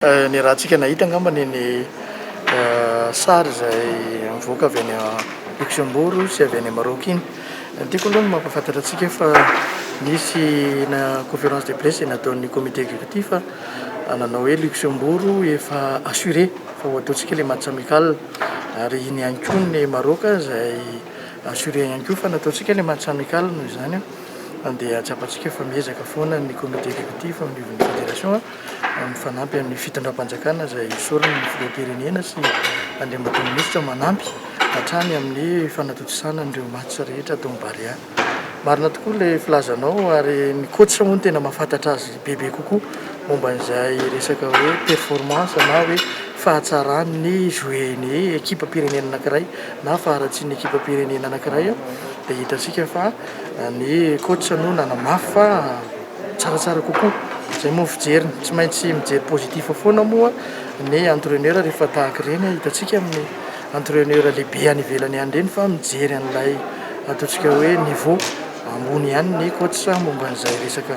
Ny rahantsika nahita angamba ny ny sary izay mivoaka avy any Luxembourg sy avy any Maroc iny. Ny tiako aloha ny mampahafantatra antsika fa nisy na conférence de presse izay nataon'ny comité exécutif nanao hoe Luxembourg efa assuré fa ho ataontsika ilay match amical ary iny ihany koa ny Maroc izay assuré ihany koa fa nataontsika ilay match amical noho izany dia tsapantsika fa miezaka foana ny comité exécutif ao anivon'ny fédération. Mifanampy amin'ny fitondram-panjakana izay esoriny ny filoham-pirenena sy andriambato minisitra manampy hatrany amin'ny fanatontosana an'ireo match rehetra ato amin'ny Barea. Marina tokoa ilay filazanao ary ny coach moa no tena mahafantatra azy bebe kokoa momba an'izay resaka hoe performance na hoe fahatsaran'ny jouer-n'ny ekipam-pirenena anankiray na faharatsian'ny ekipam-pirenena anankiray dia hitantsika fa ny coach no nanamafy fa tsaratsara kokoa. Zay moa ny fijeriny. Tsy maintsy mijery positif foana moa ny entraineur rehefa tahaka ireny. Hitantsika amin'ny entraineur lehibe any ivelany any ireny fa mijery an'ilay ataontsika hoe niveau ambony ihany ny coach momba an'izay resaka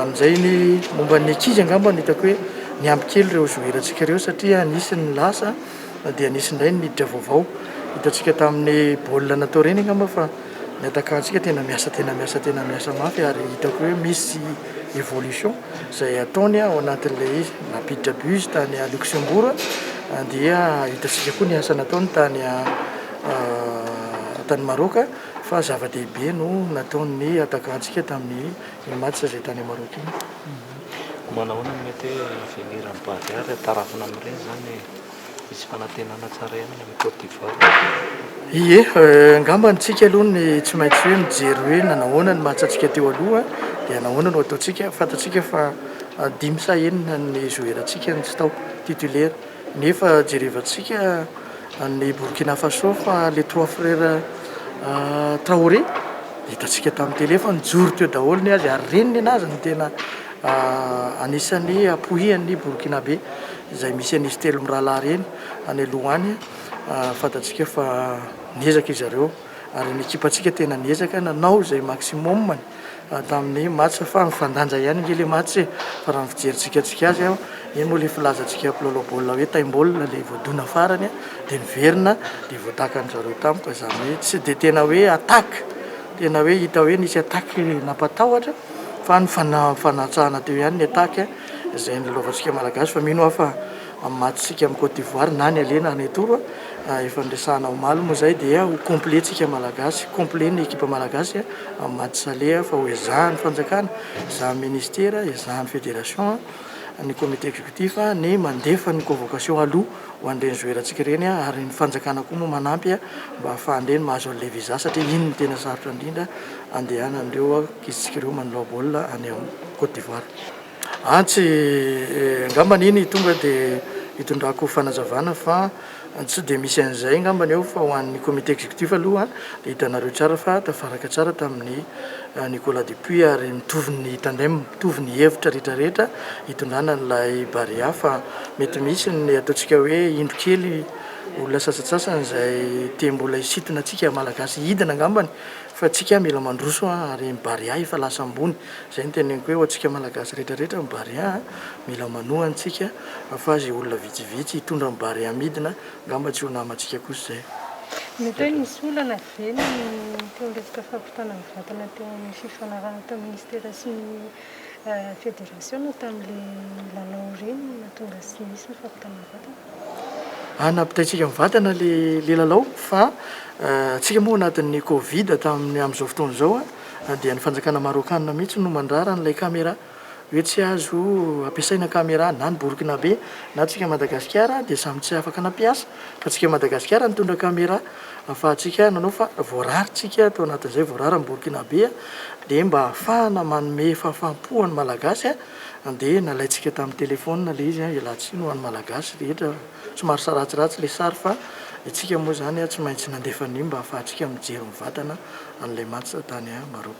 amin'izay ny momba ny ankizy angamba no hitako hoe niampy kely ireo joueur antsika ireo satria nisy ny lasa dia nisy indray ny niditra vaovao. Hitantsika tamin'ny baolina natao ireny angamba fa. Ny adakantsika tena miasa tena miasa tena miasa mafy ary hitako hoe misy évolution izay ataony ao anatin'ilay izy. Nampiditra bus tany Luxembourg dia hitantsika koa ny asa nataony tany tany Maroc fa zava-dehibe no nataon'ny adakantsika tamin'ny IMATS izay tany Maroc iny. Manahoana no mety hoe avenir-n'ny Barea raha tarafina amin'ireny izany? Hisy fanantenana tsara ihany ny amin'i Côte d'Ivoire. Ie, angamba ny tsika aloha ny tsy maintsy hoe mijery hoe nanahoana ny match-ntsika teo aloha dia nahoana no ataontsika. Fantatsika fa dimy sa enina ny zoherantsika no tsy tao, titulaire. Nefa jerevantsika an'i Burkina Faso fa les trois frères Traoré dia hitantsika tamin'ny télé fa nijoro teo daholo ny azy ary reniny ny azy no tena Anisan'ny ampohian'ny Borkinabe izay misy an'izy telo mirahalahy ireny any aloha any. Fantatsika fa niezaka izy ireo ary ny ekipantsika tena niezaka nanao izay maximum-ny tamin'ny match fa mifandanja ihany ange ilay match e! Fa raha ny fijerintsika antsika azy, iny moa ilay filazantsika mpilalao baolina hoe taim-baolina ilay voadona farany dia niverina dia voatakan'izareo tampoka izany hoe tsy dia tena hoe attaque. Tena hoe hita hoe nisy attaque nampatahotra fa ny fanatsahana teo ihany ny attaque izay nilalaovantsika Malagasy fa mino aho fa amin'ny match-tsika amin'i Côte d'Ivoire na ny aller na ny retour efa niresahana omaly moa izay dia ho complet tsika Malagasy, complet ny ekipa Malagasy amin'ny match aller fa ho ezahan'ny fanjakana, ezahan'ny ministera, ezahan'ny federation, ny comité exécutif ny mandefa ny convocation aloha. ho an'ireny zoerantsika ireny ary ny fanjakana koa moa manampy mba hahafahan'ireny mahazo an'ilay visa satria iny no tena sarotra indrindra andehanan'ireo ankizitsika ireo manao baolina any amin'ny Côte d'Ivoire. Antsy angambany iny tonga dia hitondrako fanazavana fa tsy dia misy an'izay angambany eo fa ho an'ny comité exécutif aloha dia hitanareo tsara fa tafaraka tsara tamin'ny Nicolas Dupuis ary mitovy ny tandem, mitovy ny hevitra rehetra rehetra hitondrana an'ilay Barea fa mety misy ny ataontsika hoe indro kely olona sasatsasany izay te mbola hisintona antsika Malagasy hidina angambany fa tsika mila mandroso an ary ny Barea efa lasa ambony izay no teneniko hoe ho antsika Malagasy rehetra rehetra ny Barea an mila manohana tsika fa izay olona vitsivitsy hitondra ny Barea midina angamba tsy ho namantsika kosa izay. Mety hoe nisy olana ve ny teo resaka fampidirana? Tana mivantana teo amin'ny fifanarahana tamin'ny Minisitera sy ny Federasiona tamin'ilay lalao ireny no nahatonga azy tsy nisy ny fampitana mivantana. Ary nampitaintsika mivantana ilay lalao fa tsika moa anatin'ny covid tamin'ny amin'izao fotoana izao dia ny fanjakana Marôkana mihitsy no mandrara an'ilay camera. Hoe tsy azo ampiasaina camera na ny borkinabe na tsika Madagasikara dia samy tsy afaka nampiasa fa tsika Madagasikara nitondra camera afahantsika nanao fa voarary tsika tao anatin'izay voarary ny borkinabe dia mba afahana manome fahafampo ho an'ny Malagasy dia nalaintsika tamin'ny telephone ilay izy ialà tsiny ho an'ny Malagasy rehetra somary saratsiratsy ilay sary fa itsika moa izany tsy maintsy nandefa an'io mba afahantsika mijery mivatana an'ilay match tany Maroc.